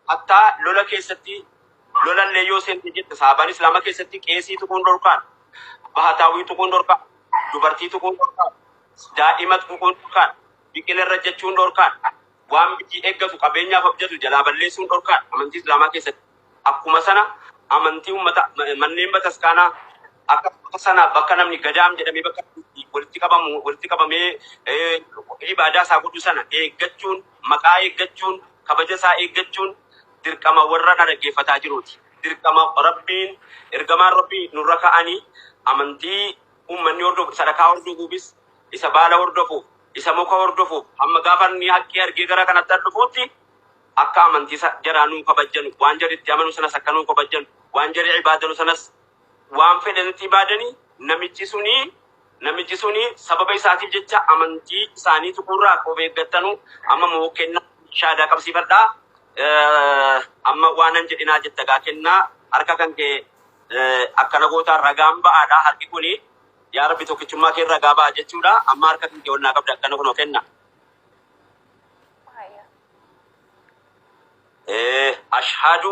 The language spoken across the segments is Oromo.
Hattaa lola keessatti lolallee yoo seente jette saabaan islaama keessatti qeesii tuquun dhorkaan, bahataawwii tuquun dhorkaan, dubartii tuquun dhorkaan, daa'ima tuquun dhorkaan, biqila irra jechuun dhorkaan, waan biyyi eeggatu qabeenyaaf abjatu jalaa balleessuun dhorkaan amantii islaamaa keessatti. Akkuma sana amantii ummata manneen bataskaanaa akka sana bakka namni gadaam jedhamee bakka walitti qabamu walitti qabamee ibaadaa isaa godhu sana eeggachuun Maqaa eeggachuun, kabaja isaa eeggachuun dirqama warra na dhaggeeffataa jiruuti. Dirqama Rabbiin, Ergamaan Rabbii nurra ka'ani. Amantii ummanni hordofu, sadakaa hordofuufis, isa baala hordofuuf, isa muka hordofuuf, hamma gaafa inni haqqii argee gara kanatti dhufuutti akka amantii jaraa nuu kabajjanu, waan jarri itti amanu sanas akka nuu kabajjanu, waan jarri ibaadanu sanas waan fedhe nutii baadanii namichi sunii namichi sunii sababa isaatiif jecha amantii isaanii tuquurraa of eeggattanu amma moo kennaa shaadaa qabsiifadhaa Eh, amma waanan jedhinaa jetta gaa kennaa harka kan kee eh, akkana gootaa ragaan ba'aadha harki kuni yaa rabbi tokkichummaa kee ragaa ba'a jechuudha amma harka kan kee onnaa qabda akkana kunoo kenna Haya. Eh, ashhadu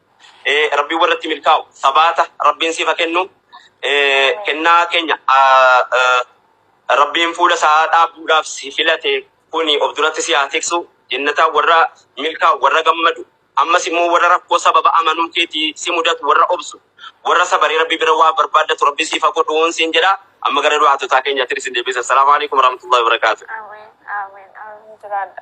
Eh, Rabbiin warratti milkaa'u sabaata Rabbiin siif haa kennu. Eh, Kennaa keenya ah, eh, Rabbiin fuula isaa dhaabuudhaaf si filate kuni of duratti si haa tiksu. Jennataa warra milkaa'u warra gammadu ammas immoo warra rakkoo sababa amanuu keetii si mudatu warra obsu warra sabaree Rabbi bira waa barbaaddatu Rabbi siif haa godhuun siin jedha. Amma gara du'aatotaa keenyaatti isin deebisa. Assalaamu alaikum warahmatullahi wabarakaatuh. Amen, amen, amen. Jiraadha.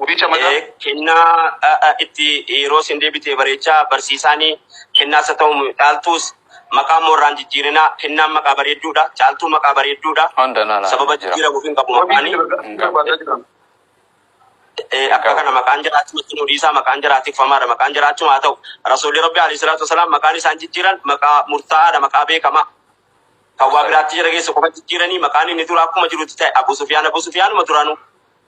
Guddicha mata. Eh, kennaa ah, ah, itti yeroo isin deebite bareechaa barsiisaanii kennaas haa ta'u caaltuus maqaa moorraan jijjiirinaa kennaan maqaa bareedduudha caaltuu maqaa bareedduudha Hunda nana sababa jira. jijjiiramuuf hin qabu Wabii maqaanii jira. Hin qabu. Barbaadaa jira. Eh, akka kana maqaan jiraachuu itti nu dhiisaa maqaan jiraa tikfamaadha maqaan jiraachuu haa ta'u rasuulli rabbi alayhi salaatu wasalaam maqaan isaan jijjiiran maqaa murtaa'aadha maqaa beekamaa kan waa biraatti jira keessa qofa jijjiiranii maqaan inni dura akkuma jirutti ta'e abu sufiyaan abu sufiyaanuma duraanuu